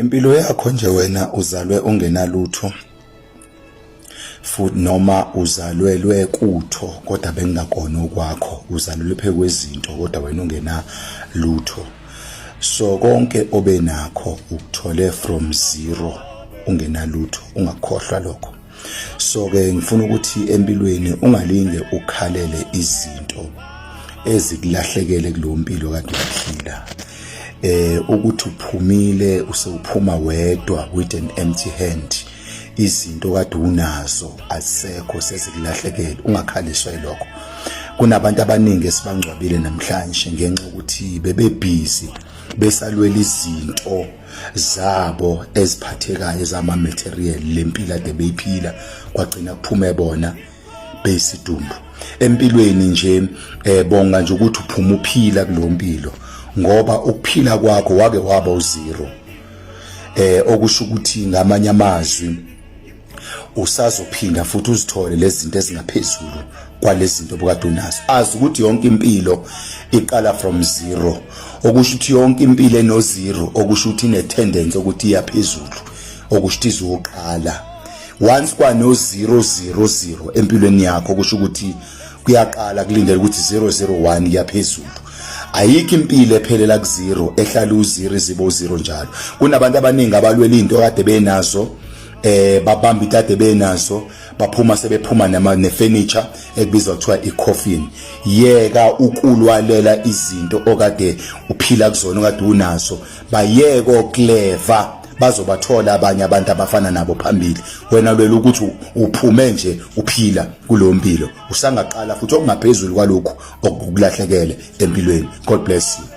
Impilo yakho nje wena uzalwe ungenalutho futhi noma uzalwelwe kutho kodwa bengingakona okwakho uzalelwe phe kwezinto kodwa wena ungena lutho so konke obenakho ukuthole from zero ungenalutho ungakhohlwa lokho so ke ngifuna ukuthi empilweni ungalinge ukhalele izinto ezikulahlekele kulompilo kade uphila eh ukuthi uphumile usewuphuma wedwa with an empty hand izinto kade unazo asekho sezikulahlekele ungakhaliswa ilokho kunabantu abaningi esibangcwabile namhlanje ngenxa ukuthi bebebhizi besalwela izinto zabo eziphathekayo zama material lempila de beyiphila kwagcina kuphume bona beyisidumbu empilweni nje eh bonga nje ukuthi uphuma uphila kulompilo ngoba ukuphila kwakho wake waba uzero eh okusho ukuthi ngamanye amazwi usazophinda futhi uzithole lezi zinto ezingaphezulu kwalezi zinto obukade unazo azi ukuthi yonke impilo iqala from zero okusho ukuthi yonke impilo eno zero okusho ukuthi ine tendency ukuthi iyaphezulu okusho ukuthi izoqala once kwano 000 empilweni yakho kusho ukuthi kuyaqala kulindele ukuthi 001 iyaphezulu ayikho impilo ephelela ku zero ehlala u zero izibo zero njalo kunabantu abaningi abalwela into kade benazo eh babamba itade benazo baphuma sebephuma nama nefurniture ekubizwa kuthiwa icoffin yeka ukulwalela izinto okade uphila kuzona okade unazo bayeko clever bazobathola abanye abantu abafana nabo phambili wena lwela ukuthi uphume nje uphila kulo mpilo usangaqala futhi okungaphezulu kwalokhu okukulahlekele empilweni god bless you